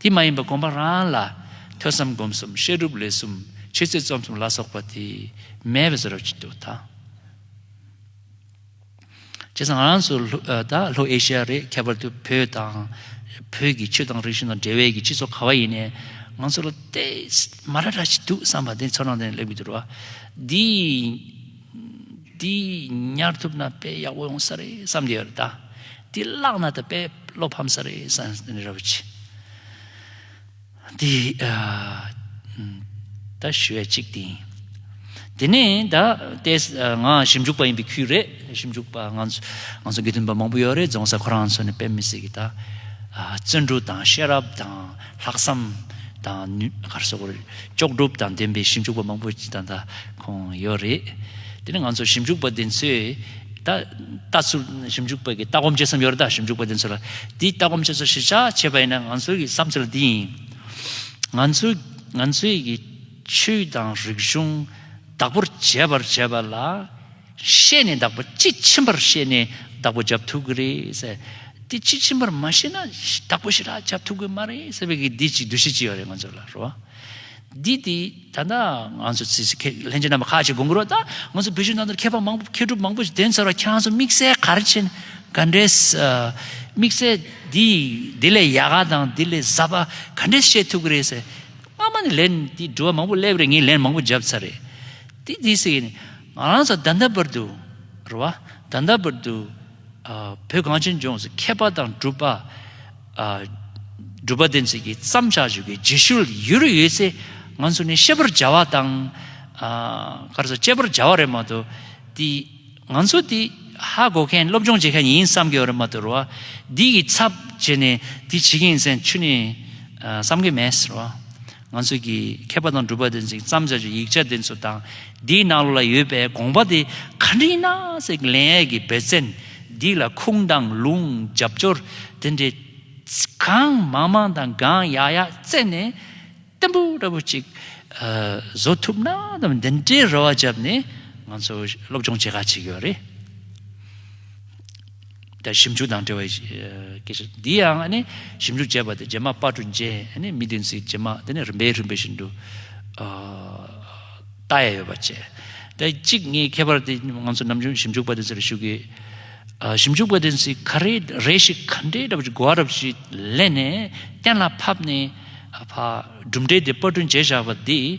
དེ་མ་ཡིན་པར་གོམས་པ་རང་ལ་ཐོས་བསམ་སྒོམ་གསུམ་བཤད་སྒྲུབ་ལས་གསུམ་ཆོས་རྩོད་རྩོམ་གསུམ་ལ་སོགས་པ་དེ་མེད་པའི་བཟོ་རབ་ཅིག་ཏུ་དང། བྱས་ཙང་ང་རང་ཚོ་ལྷོ་ཨེ་ཤི་ཡ་རེད་ཁྱད་པར་དུ་བོད་དང། བོད་ཀྱི་ཆོས་དང་རིག་གཞུང་དང་འབྲེལ་བའི་གྱི་སྤྱི་ཚོགས་ག་བ་ཡིན་ནའི་ང་ཚོ་ལ་དེ་མ་ར་ར་ཞིག་འདུག་བསམ་པ་དེ་ཚོ་རང་དེ་ལེགས་མི་འགྱུར་བ། འདི། འདི་ཉར་ཐུབ་ན་དཔེ་ཡག་པོ་ཡོང་ས་རེད་བསམ་གྱི་ཡོད་ད། འདི་བཀླགས་ན་ད་དཔེ་བློ་ཕམ་ས་རེད་བསམ་གྱི་ཡོད་ར་བུ་ཆེ། འདི་ད་ཞུ་བའི་ཅིག་དེ་ཡིན། དེ་ནས་ད་ལྟའི་ང་ཞིབ་འཇུག་པ་ཡིན་པའི་ཁུལ་རེད་ཞིབ་འཇུག་པ་ང་ཚོ་དགེ་འདུན་པ་མང་པོ་ཡོད་རེད་རྫོང་སར་ཁོ་རང་ཚོ་ནས་དཔེ་མི་སྲིད་གི་ད། བརྩོན་འགྲུས་དང་ཤེས་རབ་དང་ལྷག་བསམ་དང་ནུས། གར་སོགས་ཀྱི་ལྕོགས་གྲུབ་དང་ལྡན་པའི་ཞིབ་འཇུག་པ་མང་པོ་ད། ཁོང་ཡོད་རེད། དེ་ནི་ང་ཚོ་ཞིབ་འཇུག་པ་དེ་ཚོས་ད་ལྟ་ཚུར་ཞིབ་འཇུག་པ་གི་ལྟ་སྒོམ་བྱེད་བསམ་ཡོད་རེད་ད་ཞིབ་འཇུག་པ་དེ་ཚོ་ལ་དེའི་ལྟ་སྒོམ་བྱེད་ཚུལ་གཞིར་བཞག་བྱས་པ་ཡིན་ན་ང་ཚོའི་གི་བསམ་ཚུལ་འདི་ཡིན། ང་ཚོའི་ང་ཚོའི་གི་ཆོས་དང་རིག་གཞུང་བདག་པོར་བྱས་པར་བྱས་པ་ལ་ཤེས་ནས་བདག་པོ་དཔྱིས་ཕྱིན་པར་ཤེས་ནས་བདག་པོ་བྱབ་ཐུབ་གི་རེད། དེ་དཔྱིས་ཕྱིན་པར་མ་ཤེས་ན་བདག་པོ་ཞིག་ལ་བྱབ་ཐུབ་གི་མ་རེད་ཟེར་བའི་གི་འདི་ཅིག་འདུ་ཤེས་ཅིག་ཡོད་རེད་ང་ཚོ་ལ་རོ། འདི་དེ་ད་ལྟ་ང་ཚོ་ཚེ་ཚེ་ཁེ་ལྷན་ཅིག་རྣམ་པ་ཁག་ཅིག་དགོངས་ཀྱི་རོགས་ད་ང་ཚོ་བོད་ཕྱི་ནང་དུ་མཁས་པ་མང་པོ་མཁས་གྲུབ་མང་པོ་ཞིག་བདེན་ཚོར་བ་ཁྱང་ཚོ་དམིགས་བསལ་གར་ཆེན་ག་འདྲའི་དམིགས་བསལ་འདི་འདི་ལས་ཡག་ག་དང་འདི་ལས་ཟབ་པ་ག་འདྲའི་བཤད་ཐུབ་ཀྱི་རེད་ཟེར་སྔ་མ་ནས་ལན་འདི་འདྲི་བ་མང་པོ་སླེབས་རེད་ངས་ལན་མང་པོ་འཇབ་ཚར་རེད་དེ་དེ་སེ་ང་རང་ཚོ་ད་ལྟ་བར་དུ་རེད་བ་ད་ལྟ་བར་དུ། བོད་གངས་ཅན་ལྗོངས་སུ་མཁས་པ་དང་གྲུབ་པ། སྒྲུབ་པ་བདེན་ཚིག་གི་བརྩམ་བྱ་བཞུགས་པའི་རྗེས་ཤུལ་ཡུལ་རེ་ཡོད་ཚེ་ང་ཚོ་ནི་ཤེས་པར་བྱ་བ་དང། སྐར་ཚོགས་དཔྱད་པར་བྱ་བ་རེད་མ་གཏོགས་དེ། ང་ཚོ་དེ་ཧ་གོ་མཁན་སློབ་སྦྱོང་བྱེད་མཁན་ཡིན་བསམ་གྱི་ཡོད་རེད་མ་གཏོགས་རེད་བ། འདི་གི་ཚབ་བྱས་ནས་དེ་བྱེད་མཁན་ཡིན་སེམས་ཆུ་ནས་བསམ་གྱི་མེད་རེད་བ། ང་ཚོས་ཀྱི་མཁས་པ་དང་སྒྲུབ་པ་དེ་ཚོས་བརྩམས་བྱ་ཆུ་ཡིག་ཆ་དེ་ཚོ་དང་དེའི་ནང་ལོགས་ལ་ཡོད་པའི་དགོངས་པ་དེ་ག་འདྲ་ཡིན་ན་ཟེར་གི་ལན་ཨེ་གི་བེ་བཙན་སྡིག་ལ་ཁུངས་དང་ལུང་རྒྱབ་སྐྱོར་དེ་འདྲའི་གང་མང་མང་དང་གང་ཡག་ཡག་བཙལ་ནས་བརྟན་པོ་འདྲ་པོ་ཅིག་བཟོ་ཐུབ་ན་དང་འདི་འདྲའི་རེ་བ་བརྒྱབ་ནས་ང་ཚོ་སློབ་སྦྱོང་བྱེད་ག་ཅིག་ཡོད་རེད། དང་ཞིབ་འཇུག་དང་འབྲེལ་བའི་སྐད་ཆ་འདི་ཡང་ནི་ཞིབ་འཇུག་བྱས་པ་དེ་རྗེས་མ་དཔར་གྲུ་འཇལ་ནི་མི་བདུན་ཚིགས་བཅད་མ་དེ་ནི་རིམ་པས་རིམ་པས་བཞིན་དུ་ལྟ་ཡ་ཡོད་པ་བྱས། དེ་གཅིག་ངའི་ཁྱད་པར་དེ་ང་ཚོ་ནམ་རྒྱུན་ཞིབ་འཇུག་པ་དེ་ཚོ་ལ་ཞུ་གི། ཞིབ་འཇུག་པ་དེ་ཚོས་ག་རེ་རེ་ཞིག་ག་འདྲའི་ར་བ་ཞིག་གོ་བ་ར་བ་ཞིག་ལེན་ནས་གཏན་ལ་ཕབ་ནས་གྲུབ་འབྲས་དེ་དཔར་གྲུ་འཇལ་བཞག་པ་འདི།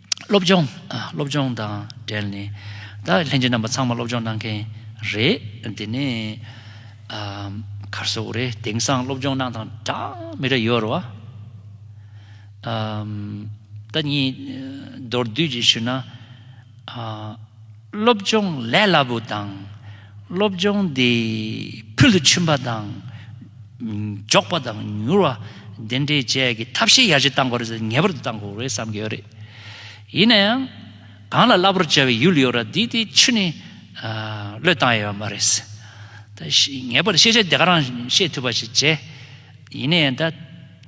སློབ་སྦྱོང། སློབ་སྦྱོང་དང་འབྲེལ་ནས་ད་ལྷན་རྒྱས་རྣམ་པ་ཚང་མ་སློབ་སྦྱོང་གནང་མཁན་རེད། དེ་ནས་གར་སོགས་རེད། དེང་སང་སློབ་སྦྱོང་གནང་དང་གྲངས་མེད་རེ་ཡོད་རེད། ད་གཉིས་མདོར་བསྡུས་ཀྱིས་ཞུས་ན། སློབ་སྦྱོང་ལས་སླ་པོ་དང། སློབ་སྦྱོང་དེ་ཕུལ་དུ་ཕྱིན་པ་དང་མགྱོགས་པ་དང་མྱུར་བ་དེ་འདྲའི་བཅས་ཀྱི་ཐབས་ཤེས་ཡར་རྒྱས་གཏང་དགོས་རེད་ངེས་པར་དུ་གཏང་དགོས་རེད་བསམ་གྱི་ཡོད་རེད། ཡིན་ན་ཡང་གང་ལ་སླ་པོར་བྱ་བའི་ཡུལ་ཡོད་ར་དེ་དེ་ཆུ་ནས་བློས་བཏང་ཡོད་མ་རེད། ངེས་པར་དུ་ཤེས་བྱ་དེ་ག་རང་ཤེས་ཐུབ་པ་ཞིག་བྱས། ཡིན་ན་ཡང་ད།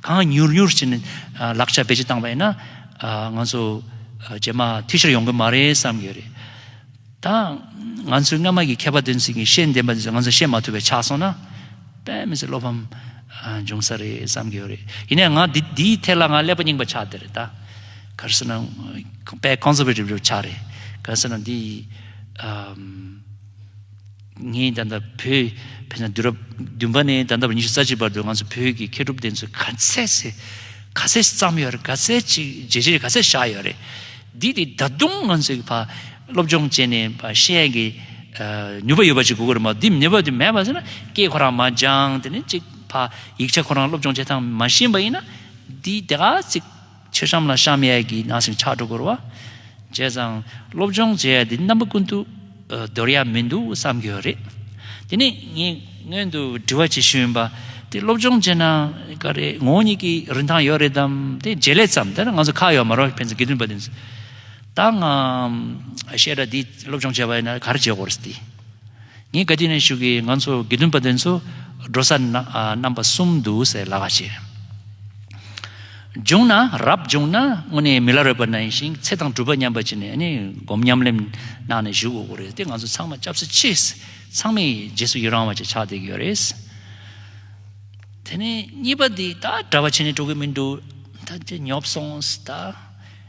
གང་མྱུར་མྱུར་བྱས་ནས་ལག་ཆ་བེད་སྤྱོད་བཏང་བ་ཡིན་ན། ང་ཚོ་རྗེས་མ་འཐུས་ཤོར་ཡོང་གི་མ་རེད་བསམ་གྱི་ཡོད་རེད། ད་ང་ཚོའི་སྔ་མ་གི་མཁས་པ་དེ་ཚོས་ཀྱིས་ཤེས་ལྡན་པ་དེ་ཚོས་ང་ཚོས་ཤེས་མ་ཐུབ་པའི་ཆགས་སོང་ན། དཔེ་མི་སྲིད་བློ་ཕམ་འབྱུང་ས་རེད་བསམ་གྱི་ཡོད་རེད། ཡིན་ནའི་ང་འདིའི་ཐད་ལ་ང་ཀླད་པ་རྙིང་པ་ཆགས་བསྡད་རེད་ད། གལ་སྲིད་ན་དཔེ Conservative ཆགས་རེད། གལ་སྲིད་ན་འདི། ངས་ད་ལྟ་བོད་ཕེབས་ན་དུས་རབས་བདུན་པ་ནས་ད་ལྟ་བར་ཉི་ཤུ་རྩ་གཅིག་བར་དུ་ང་ཚོ་བོད་ཀྱི་མཁས་གྲུབ་བསྟན་འཛིན་ག་ཚད་ཟེར་ག་ཚད་བརྩམས་ཡོད་རེད་ག་ཚད་ཅིག་རྗེས་འབྲེལ་ག་ཚད་བཞག་ཡོད་རེད། འདི་དེ་ད་དུང་ང་ཚོའི་བ་སློབ་སྦྱོང་བྱས་ནས་བ་བཤད་ཀྱི་ནུས་པ་ཡོད་པ་ཅིག་དགོས་ཀྱི་རེད་མ་འདི་ནུས་པ་དེ་མེད་པ་ཟེར་ན་སྐད་ཁོ་རང་མ་སྦྱངས་དེ་ནས་ཅིག་བ་ཡིག་ཆ་ཁོ་རང་སློབ་སྦྱོང་བྱེད་སྟངས་མ་ཤེས་པ་ཡིན་ན་འདི་དེ་ག་ཚིག། ཕྱི་ཤམ་ལ་བཤམ་ཡས་ཀྱི་ནང་སེང་ཕྱག་དྲུག་བསྐོར་བ་བྱས་ཙང་སློབ་སྦྱོང་བྱེད་ཡས་འདི་རྣམ་པ་ཀུན་ཏུ་འདོར་ཡས་མི་འདུག་བསམ་གྱི་ཡོད་རེད། དེ་ནས་ངས་སྔོན་དུ་དྲི་བ་བྱེད་ཤེས་ཡོན་པ་དེ་སློབ་སྦྱོང་བྱེད་ན་ག་རེ་ངོ་བོ་ཉིད་ཀྱི་རིན་ཐང་ཡོད་རེད་དམ་དེ་བརྗེད་ལས་ཙམ་དེ་ལ་ང་ཚོ་ཁག་ཡོད་མ་རོགས་ཕན་ཚུན་དགེ་འདུན་པ་དེ་ཚོས་ད་ང་བཤད་གྲྭ་འདི་སློབ་སྦྱོང་བྱས་པ་ཡིན་ན་ག་རེ་བྱེད་དགོས་རེད་དེ། ངས་བཀའ་དྲིན་ཞུ་གི་ང་ཚོ་དགེ་འདུན་པ་དེ་ཚོ་འགྲོ་ས་རྣམ་པ་གསུམ་འདུག་ཟེར་ལགས་ཀྱི། བྱུང་ན་རབ་བྱུང་ན་དངོས་གནས་མི་ལ་རོལ་པ་ན་ཡིན་ཞིང་ཚེ་དང་གྲུབ་པ་མཉམ་པ་ཅིག་ནས་སྒོམ་ཉམས་ལེན་གནང་ནས་བཞུགས་དགོས་རེད་དེ་ང་ཚོ་ཚང་མ་སྐྱབས་སུ་མཆི། ཚང་མས་རྗེས་སུ་ཡི་རང་བ་ཅིག་ཆགས་བསྡད་ཀྱི་ཡོད་རེད། དེ་ནས་གཉིས་པ་དེ་ད་གྲྭ་བ་བྱས་ནས་འགྲོ་གི་མི་འདུག་ད་ཉོབ་སོང་ད།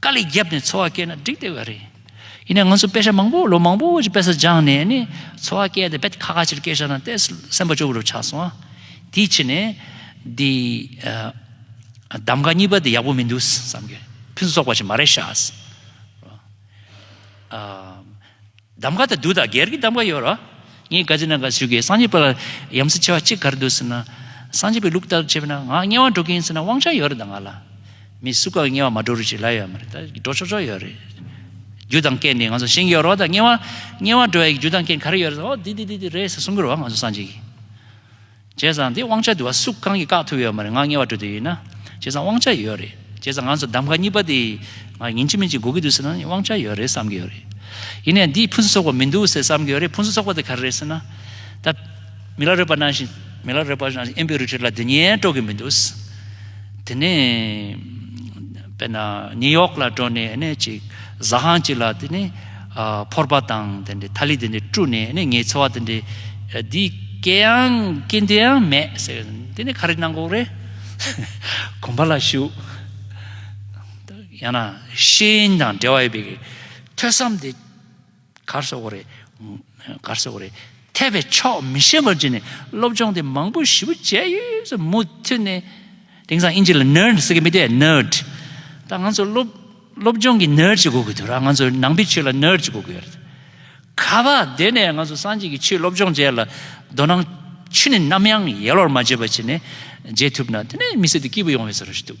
དཀའ་ལས་བརྒྱབ་ནས་འཚོ་བ་སྐྱེལ་ན་འགྲིག་བསྡད་པ་རེད། ཡིན་ནའང་ང་ཚོ་དཔེ་ཆ་མང་པོ་ལོ་མང་པོ་ཞིག་དཔེ་ས་སྦྱངས་ནས་ནི་འཚོ་བ་སྐྱེལ་ཏེ་དཔེ་ཁ་ཁ་ཕྱིར་སྐྱེལ་བཞག་ན་ལྟས་སེམས་པ་སྐྱོ་པོ་རུ་ཆགས་སོང་ཨ། དེའི་ཕྱིར་ནས། འདི། གདམ་ག་གཉིས་པ་འདི་ཡག་པོ་མི་འདུག་བསམ་གྱི་རེད། ཕུན་སུ་ཚོགས་པ་ཞིག་མ་རེད་ཤག། གདམ་ག་དང་བདུད་དང་བགེགས་ཀྱི་གདམ་ག་ཡོད། ངའི་བཀའ་ཅི་ན་ག་ཞུ་གི་སངས་རྒྱས་པ་ལ་ཡམ་སྲི་ཆེ་བ་གཅིག་གར་འདུག་ཟེར་ན། སངས་རྒྱས་པའི་ལུགས་ལྟར་བྱས་པས་ན་ང་དམྱལ་བར་འགྲོ་གིན་ཡིན་ཟེར་ན་དབང་ཆ་ཡོད་རེད་ད་ང་ལ། མི་སུ་གང་གི་དམྱལ་བར་མ་འགྲོ་རུ་ཅིག་ལབ་ཡོད་མ་རེད་ད་འགྲོ་ཆོག་ཆོག་ཡོད་རེད། རྒྱུ་དང་རྐྱེན་ནི་ང་ཚོ་ཤེས་ཀྱི་ཡོད་རོགས་ད་དམྱལ་བ་དམྱལ་བར་འགྲོ་ཡ་གི་རྒྱུ་དང་རྐྱེན་ག་རེ་ཡོད་རེད་ད་འོ་དེ་དེ་དེ་དེ་རེད་ཟེར་གསུང་གི་རོགས་ང་ཚོ་སངས་རྒྱས་ཀྱི། བྱས་ཙང་དེ་དབང་ཆ་དེ་བ་སུ་གང་གིས་བཀག་ཐུབ་ཡོད་མ་རེད་ང་ངེས་བ་འགྲོ་དུས་ཡིན་ན་བྱས་ཙང་དབང་ཆ་ཡོད་རེད་བྱས་ཙང་ང་ཚོ་གདམ་ག་གཉིས་པ་དེ་ང་ཉིན་གཅིག་མིན་གཅིག་འགོ་གི་འདུག་ཟེར་ན་དབང་ཆ་ཡོད་རེད་བསམ་གི་ཡོད་རེད་ཡིན་ནས་འདིས་ཕུན་སུ་ཚོགས་པ་མི་འདུག་ཟེར་བསམ་གི་ཡོད་རེད་ཕུན་སུ་ཚོགས་པ་དེ་ག་རེ་རེད་ཟེར་ན་ད་མི་ལ་རོལ་པ་གནང་བཞིན་མི་ལ་རོལ་པ་གནང་བཞིན་ཨེམ་པི་རི་ཁྲི་ལ་དེ་ཉན་སྤྲོ་གི་མི་འདུག་དེ་ནས་དཔེར་ན་ནིའུ་ཡོག་ལ་འགྲོ་ནས་ནས་ཅིག་གཟའ་ཁང་ཅིག་ལ་དེ་ནས་ཕོར་པ་དང་དེ་འདྲའི་ཐ་ལི་དེ་འདྲས་བཀྲུས་ནས་ནི་ངའི་འཚོ་བ་དེ་འདྲས་འདི་སྐད་ཡང་སྐད་འདི་ཡང་མེད་ཟེར་བས་དེ་ནི་ག་རེ་གནང་གོ་རེད། གོམ་པ་ལ་བཞུགས། ཡང་ན་ཤིང་དང་འབྲེལ་བ་ཡོད་པའི་ཐོས་བསམ་དེ་གར་བཟོ་གོ་རེད། འཐད་པའི་ཕྱོགས་མི་ཤེས་པར་གྱུར་ནས་སློབ་སྦྱོང་དེ་མང་པོ་ཞིབ་བུ་བྱས་ཡོད་ཟེར་མུ་མཐུད་ནས། དེང་སང་དབྱིན་ཇི་ལ Nerd ཟེར་གི་མི་དེ Nerd། ད་ང་ཚོ་སློབ་སློབ་སྦྱོང་གི Nerd ཅིག་གོ་གི་འདུག་ར་ང་ཚོ་ནང་པའི་ཆོས་ལ Nerd ཅིག་གོ་གི་ཡོད་རེད། ག་པ་དེ་ནས་ང་ཚོ་སངས་རྒྱས་ཀྱི་ཆོས་སློབ་སྦྱོང་བྱས་ལ་དོ་སྣང་ཆུ་ནི་ནམ་ཡང་ཡལ་བར་མ་བྱེད་པ་བྱས་ནས་བརྗེད་ཐུབ་ན་དེ་ནས་མི་སེར་དེ་སྐྱིད་པོ་ཡོང་བའི་ས་རུ་ཞིག་འདུག།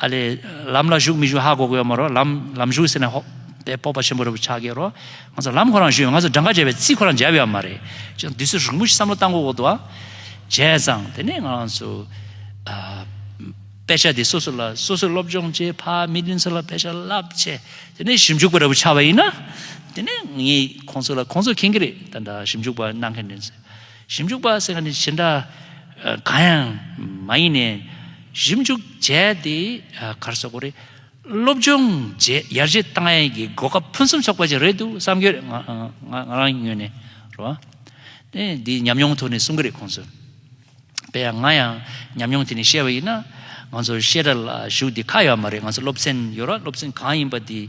ཨ་ལས། ལམ་ལ་ཞུགས་མི་ཞུགས་ཧ་གོ་གོ་ཡོད་མ་རོག་ལམ་ལམ་ཞུགས་ཟེར་ནས་ཧོ། དེ་སྤོབས་པ་ཆེན་པོ་རེད་བུ་ཆགས་སྐྱེ་རོ། ང་ཚོ་ལམ་ཁོ་རང་ཞུས་ཡོད་ང་ཚོ་སྦྲང་དཀར་བྱས་པའི་རྩིས་ཁོ་རང་འཇལ་ཡོད་མ་རེད། ཅི་ཡང་དུས་ཚོད་རིང་པོ་ཞིག་བསམ་བློ་བཏང་གོ་གོ་འདུག་ཨ། བྱས་ཙང་དེ་ནས་ང་རང་ཚོ། དཔེ་ཆ་དེ་སོ་སོ་ལ་སོ་སོས་སློབ་སྦྱོང་བྱས་ཕ་མི་བདུན་ཚོ་ལ་དཔེ་ཆ་བསླབ་བྱས་དེ་ནས་ཞིབ་འཇུག་པ་རེད་བུ་ཆགས་པ་ཡིན་ན། དེ་ནས་ངས་ཁོང་ཚོ་ལ་ཁོང་ཚོ་མཁྱེན་གྱི་རེད་ད་འདྲ་ཞིབ་འཇུག་པ་གནང་མཁན་དེ་ཚོས། ཞིབ་འཇུག་པ་ཟེར་བ་ནི་ཇི་འདྲ་གང་ཡང་མ་ཡིན་ནས། ཞིབ་འཇུག་བྱས་ཏེ་གར་སོག་པོ་རེད། སློབ་སྦྱོང་བྱས་ཡར་རྒྱས་བཏང་ཡས་ཀྱི་གོ་སྐབས་ཕུན་སུམ་ཚོགས་པ་ཞིག་རེད་འདུག་བསམ་གྱི་རེད་ང་རང་ཉོན་ནས་རོ། འདིའི་ཉམས་མྱོང་ཐོག་ནས་གསུང་གི་རེད་ཁོང་ཚོས། དཔེར་ཡང་ང་ཡང་ཉམས་མྱོང་དེ་ནས་བཤད་པ་ཡིན་ན། ང་ཚོ་བཤད་གྲྭ་ལ་ཞུགས་དེ་ཁག་ཡོད་མ་རེད་ང་ཚོ་སློབ་ཚན་ཡོད་ར་སློབ་ཚན་གང་ཡིན་པ་དེ།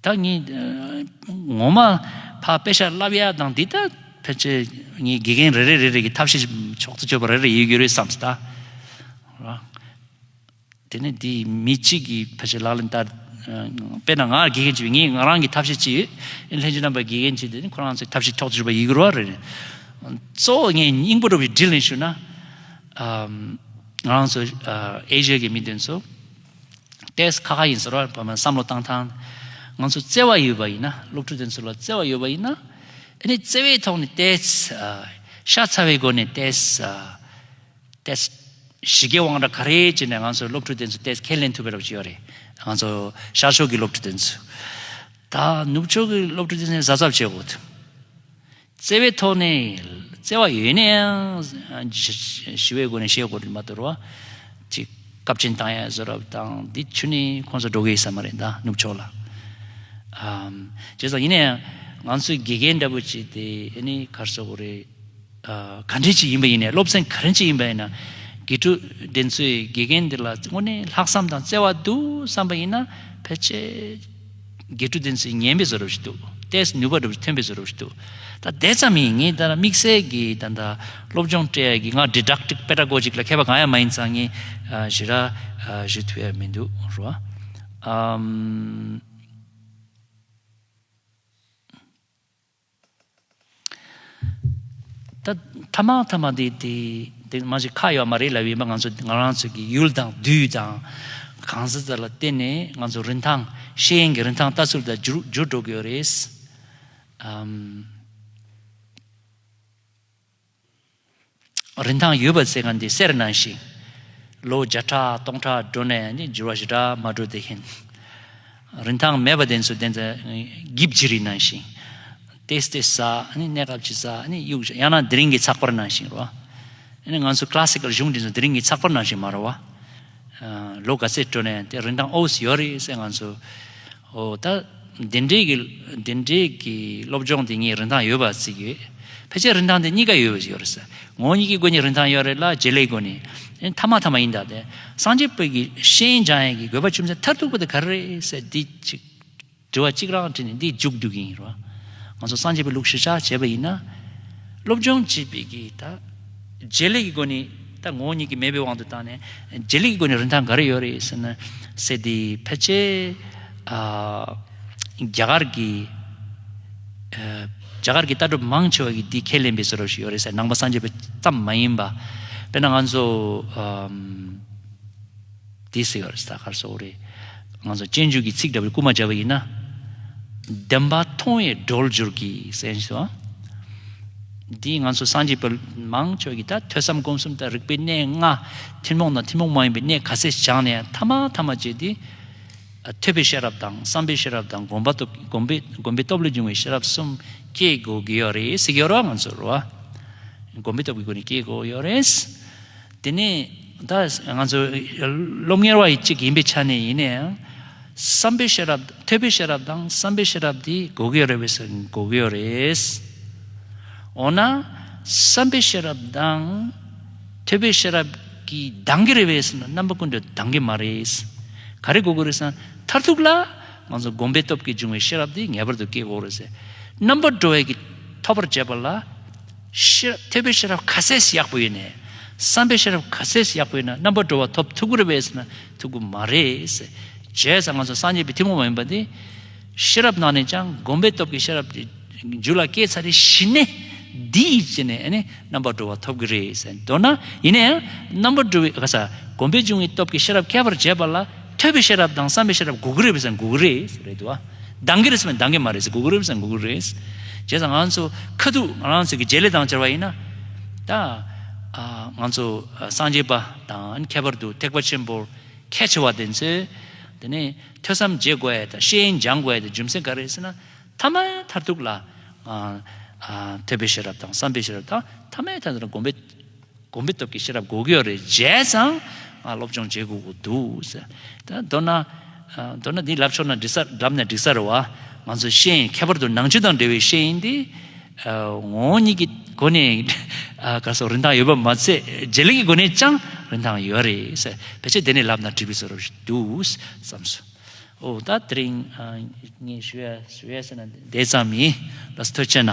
བདག་ཉིད་ངོ་མ་ཕ་དཔེ་ཤར་རླབས་ཡག་དང་འདི་ལྟར་ཕལ་ཆེར་ངའི་དགེ་རྒན་རེ་རེས་རེ་རེ་ཀྱི་ཐབས་ཤེས་ཕྱོགས་སུ་བཅོས་པ་རེ་རེ་ཡོད་རྒྱུ་རེད་བསམས་སྟ། དེ་ནས་དེ་མི་གཅིག་གིས་ཕལ་ཆེར་ལག་ལེན་བསྟར། དཔེར་ན་ང་ལ་དགེ་རྒན་གཅིག་ཡོད་ངས་ང་རང་གི་ཐབས་ཤེས་གཅིག་ཡོད། ལྷན་ཅིག་རྣམ་པར་དགེ་རྒན་གཅིག་དེ་ཁོ་རང་ཚོའི་ཐབས་ཤེས་ཕྱོགས་སུ་བཅོས་པ་ཡོད་རྒྱུ་རོ་རེད། གཙོ་བོ་ངས་སྙིང་པོ་རུ་བའི་དྲིས་ལན་ཞུ་ན། ང་རང་ཚོ་ཨེ་ཤ་ཡའི་མི་དེ་ཚོ། ཏེས་ཁ་ཁ་ཡིན་ཟེར་བར་བོད་མ་བསམ་བློ་བཏང་ཐང། ང་ཚོ་བརྩེ་བ་ཡོད་པ་ཡིན་ན་སློབ་ཕྲུག་དེ་ཚོ་ལ་བརྩེ་བ་ཡོད་པ་ཡིན་ན། དེ་ནི་བརྩེ་བའི་ཐོག་ནས་ཏེས། ཤ་ཚ་བའི་སྒོ་ནས་ཏེས། ཏེས། གཞིས་ཀའི་དབང་གྲགས་ག་རེ་བྱས་ནས་ང་ཚོ་སློབ་ཕྲུག་དེ་ཚོ་ཏེས་ཁས་ལེན་ཐུབ་པའི་རོགས་བྱས་ཡོད་རེད། ང་ཚོ་ཤར་ཕྱོགས་ཀྱི་སློབ་ཕྲུག་དེ་ཚོས། ད་ནུབ་ཕྱོགས་ཀྱི་སློབ་ཕྲུག་དེ་ཚོས་གཟབ་གཟབ་བྱེད་དགོས། བརྩེ་བའི་ཐོག་ནས་བརྩེ་བ་ཡོད་ནའང་ཞི་བའི་སྒོ་ནས་བཤད་དགོས་རེད་མ་དོར་བ་གཅིག་སྐབས་ཆེན་དང་ཡང་བཟོད་རབ་དང་འདི་ཆུ་ནི་ཁོང་ཚོ་འགྲོ་གི་ཡིན་ས་མ་རེད་ད་ནུབ་ཕྱོགས་ལ་བྱས་ཙང་ཡིན་ན་ཡང་ང་ཚོའི་དགེ་རྒན་འདྲ་པོ་བྱས་ཏེ་ཨེ་ནི་གར་བཟོ་དགོས་རེད་ག་འདྲས་ཅིག་ཡིན་པ་ཡིན་ནའི་སློབ་ཚན་ག་རེ་ཅིག་ཡིན་པ་ཡིན་ན་དགེ་ཕྲུག་འདི་ཚོས་དགེ་རྒན་འདི་ལ་དངོས་གནས་ལྷག་བསམ་དང་བརྩེ་བ་འདུག་བསམ་པ་ཡིན་ན་ཕལ་ཆེར། དགེ་ཕྲུག་བསྟན་སྲིད་ཉན་པའི་བཟོ་རབས་ཤིག་འདུག་ལྟས་ནུས་པ་སྒྲུབ་རྒྱུ་ཐོན་པའི་བཟོ་རབས་ཤིག་འདུག་ད་དེ་ཙམ་ཡིན་ངས་ད་དམིགས་བསལ་གྱི་ད་ལྟ་སློབ་སྦྱོང་སྤྲད་ཡ་གི་ང་དྲིལ་བསྒྲགས་ཀྲིག་པེད་དྲ་གོ་ཅིག་ལ་མཁས་པ་གང་ཡང་མ་ཡིན་ཙང་ངས་ཞི་ར་ཞུ་ཐུབ་ཡ་མི་འདུག་རོ་ཨ། ད་ཐ་མ་ཐ་མ་དེ་དེ་དེ་མ་གཞི་ཁ་ཡོད་མ་རེད་ལབ་ཡོད་པ་ང་ཚོ་ང་རང་ཚོ་གི་ཡུལ་དང་དུས་དང་གང་ཟག་ལ་བརྟེན་ནས་ང་ཚོ་རིན་ཐང་ཤེས་ཡོན་གྱི་རིན་ཐང་ལྟ་ཚུལ་དང་འགྱུར་འགྱུར་འགྲོ་གི་ཡོད་རེད། རིན་ཐང་ཡོད་པ་ཟེར་མཁན་དེ་སེར་སྣ་ཞིག་ལོ་བརྒྱ་ཕྲག་སྟོང་ཕྲག་འགྲོ་ནས་འགྱུར་བ་ཞིག་འདྲ་མ་འགྲོ་བདེ་ཞིང། རིན་ཐང་མེད་པ་དེ་ཚོ་དེ་ཚོ་སྒིབ་བྱེད་རིགས་སྣང་ཞིང། ལྟས་ལྟས་ཟ་གནས་སྐབས་ཀྱི་ཟ་གཡུག་ཞིག་ཡང་ན་དེ་རིང་གི་ཚགས་པར་ནང་ཞིག་རོ། ང་ཚོ Classical གཞུང་དེ་ཚོ་དེ་རིང་གི་ཚགས་པར་ནང་ཞིག་མ་རོ། ལོ་ག་ཚོད་འགྲོ་ནས་དེ་རིན་ཐང་ཨོའུ་སི་ཡོད་རེད་ཟེར་ང་ཚོ། ཨོ། ད། འདི་འདྲའི་གི། འདི་འདྲའི་གི་སློབ་སྦྱོང་དེ་གཉིས་རིན་ཐང་ཡོད་པ་ཚིག་ཡོད། ཕལ་ཆེར་རིན་ཐང་དེ་གཉིས་ཀ་ཡོད་བཞིན་ཡོད་རེད་ས། ངོ་གཉིས་ཀྱི་སྒོ་ནས་རིན་ཐང་ཡོད་རེད་ལ་བྱེད་ལས་སྒོ་ནས། མཐའ་མ་མཐའ་མ་ཡིན་ད་དེ། སངས་རྒྱས་པོད་ཀྱི་ཤེས་ཡོན་སྦྱང་ཡས་ཀྱི་དགོས་པ་ཆུ་མཚན་མཐར་ཐུག་པ་དེ་ག་རེ་རེད་ཟེར་འདི་གཅིག། དྲི་བ་གཅིག་རང་དྲིས་ནས་འདི་མཇུག་བསྡུ་གིན་ཡིན་རོ། ང་ཚོ་སངས་རྒྱས་པའི་ལུགས་གཞིར་བཞག་བྱས་པ་ཡིན་ན། སློབ་སྦྱོང་བྱས་པའི་གི་ད། རྗེས་ལུས་ཀྱི་སྒོ་ནས་ད་ངོ་བོ་ཉིད་ཀྱིས་མེད་པའི་དབང་དུ་བཏང་ནས་རྗེས་ལུས་ཀྱི་སྒོ་ནས་རིན་ཐང་ག་རེ་ཡོད་རེད་ཟེར་ན། སྲིད་དེ་ཕལ་ཆེར་རྒྱ་གར་གྱི་རྒྱ་གར་གྱི་ལྟ་གྲུབ་མང་ཆེ་བ་ཀྱིས་དེ་ཁས་ལེན་པའི་ཟེར་རོ་ཞིག་ཡོད་རེད་ས་ནང་པ་སངས་རྒྱས་པ་ཙམ་མ་ཡིན་པ། དཔེར་ན་ང་ཚོ། དེ་སྲིད་གར་ས་གར་སོགས་རེད། ང་ཚོ་སྤྱན་འཇུག་གི་ཚིག་འདྲ་བོའི་སྐུལ་མ་བྱས་པ་ཡིན་ན། བདེན་པ་མཐོང་བའི་སྒྲོལ་སྦྱོར་གྱི་སེམས་སོ། འདིས་ང་ཚོ་སངས་རྒྱས་པའི་མང་ཆོས་ཀྱི་དང་ཐོས་བསམ་སྒོམ་གསུམ་དང་རིག་པའི་གནས་ལྔ། ཐུན་མོང་དང་ཐུན་མོང་མ་ཡིན་པའི་གནས་ག་ཚད་སྦྱངས་ནས་ཐ་མ་ཐ་མ་བྱས་ཏེ། ཐོས་པའི་ཤེས་རབ་དང་བསམ་པའི་ཤེས་རབ་དང་སྒོམ་པ་སྒོམ་པའི་སྟོབས་ལས་འབྱུང་བའི་ཤེས་རབ་གསུམ་སྐྱེ་དགོས་ཀྱི་ཡོད་རེད། སེ་གེ་རོ་ང་ཚོར་བ། སྒོམ་པའི་སྟོབས་ཀྱི་སྒོ་ནས་སྐྱེ་དགོས་ཡོད་རེད། དེ་ནི་ད་ང་ཚོ་སློབ་གཉེར་བ་ཡི་གཅིག་ཡིན་པའི་ཆ་ནས་ཡིན་ན་ཡང། བསམ་པའི་ཤེས་རབ་ཐོས་པའི་ཤེས་རབ་དང་བསམ་པའི་ཤེས་རབ་དེ་དགོས་ཀྱི་རེད་བས་སོ་དགོས་ཀྱི་རེད། འོ་ན། བསམ་པའི་ཤེས་རབ་དང། ཐོས་པའི་ཤེས་རབ་ཀྱིས་འདང་གི་རེད་བས་སོ་ན་རྣམ་པ་ཀུན་ཏུ་འདང་གི་མ་རེད། ག་རེ་དགོས་ཀྱི་རེད་ས་མཐར་ཐུག་ལ། ང་ཚོ་བསྒོམ་པའི་སྟོབས་ཀྱིས་འབྱུང་བའི་ཤེས་རབ་དེ་ངེས་པར་དུ་སྐྱེ་དགོས་རེད། རྣམ་པར་གྲོལ་བས་ཀྱིས་ཐོབ་པར་བྱས་པ་ལ། ཐོས་པའི་ཤེས་རབ་ཁ་ཟས་སུ་ཡག་པོ་ཡོད་ནས། བསམ་པའི་ཤེས་རབ་ཁ་ཟས་སུ་ཡག་པོ་ཡོད་ན་རྣམ་པར་འགྲོ་བ་ཐོབ་ཐུག་གུ་རུ་བས་ན་ཐུག་གུ་མ་རེད། བྱས་ཙང་ང་ཚོ་སངས་རྒྱས་པའི་ཐུན་མོང་མ་ཡིན་པ་འདི། ཤེས་རབ་ནང་ནས་ཀྱང་བསྒོམ་པའི་སྟོབས་ཀྱི་ཤེས་རབ་ཀྱི་རྒྱུ་ལ་སྐྱེས་ཚར་རེ་ཞི་ནས། འདི་ཡིས་བྱས་ནས་རྣམ་པར་འགྲོ་བ་ཐོབ་གི་རེད་ཟེར་མདོར་ན་ཡིན་ན་ཡང་རྣམ་པར་འགྲོ་བའི་བསྒོམ་པའི་འབྱུང་བའི་སྟོབས་ཀྱི་ཤེས་རབ་ཁྱད་པར་འབྱེད་པ་ལ་ཐོས་པའི་ཤེས་རབ་དང་བསམ་པའི་ཤེས་རབ་དགོས་གི་རེད་བས་ན་དགོས་གི་རེད། འདང་གི་རེད་ཟེར་བས་འདང་གི་མ་རེད་ཟེར་གུ་གུ་རེད་ཟེར་བས་གུ་གུ་རེད། བྱས་ཙང་ང་ཚོ་ཁ་ཐུག་ང་རང་ཚོ་གི་རྗེས་ལས་དང་བཅར་བ་ཡིན་ན། ད་ང་ཚོ་སངས་རྒྱས་པ་དང་ཁྱད་པར་དུ་ཐེག་པ་ཆེན་པོར་ཁས་འཆེ་བ་དེ་ཚོས། དེ་ནས་ཐོས་བསམ་བརྗེད་དགོས་དང་ཤེས་ཡོན་སྦྱང་དགོས་དང་རྒྱུ་མཚན་ག་རེད་ཟེར་ན། ཐ་མལ་མཐར་ཐུག་ལ། ཐོས་པའི་ཤེས་རབ་དང་བསམ་པའི་ཤེས་རབ་དང་ཐ་མལ་མཐར་ཐུག་ལ་སྒོམ་པའི། དགོན་པའི་སྟོབས་ཀྱིས་ཤེས་རབ་དགུག་ཡོད་རེད་བྱས་ཙང་ང་སློབ་སྦྱོང་བྱེད་དགོས་ཀྱི་འདུག་ཟེར། ད་མདོར་ན། མདོར་ན་འདི་ལབ་ཆོག་ན་འབྲི་སར་བསྒྲབས་ནས་བསྒྲིག་ས་རེད་བ། ང་ཚོ་ཤེས་ཡིན་ཁྱད་པར་དུ་ནང་ཆོས་དང་འབྲེལ་བའི་ཤེས་ཡིན་འདི། ངོ་བོ་ཉིད་ཀྱི་སྒོ་ནས་གར་སོགས་རིན་ཐང་ཡོད་པ་མ་ཚད་རྗེས་ལུས་ཀྱི་སྒོ་ནས་ཀྱང་རིན་ཐང་ཡོད་རེད། བེད་སྤྱད་དེ་ནས་ལབ་ན་འགྲིག་པའི་ཚོར་བ་ཞིག་འདུག་བསམ་སོང། ཨོ་ད་དེ་རིང་ངས་ཞུ་ཡ་ཞུ་ཡ་བྱས་ན་དེ་ཙམ་ཡིན་ལ་སི་ཐོད་ཆེ་ན།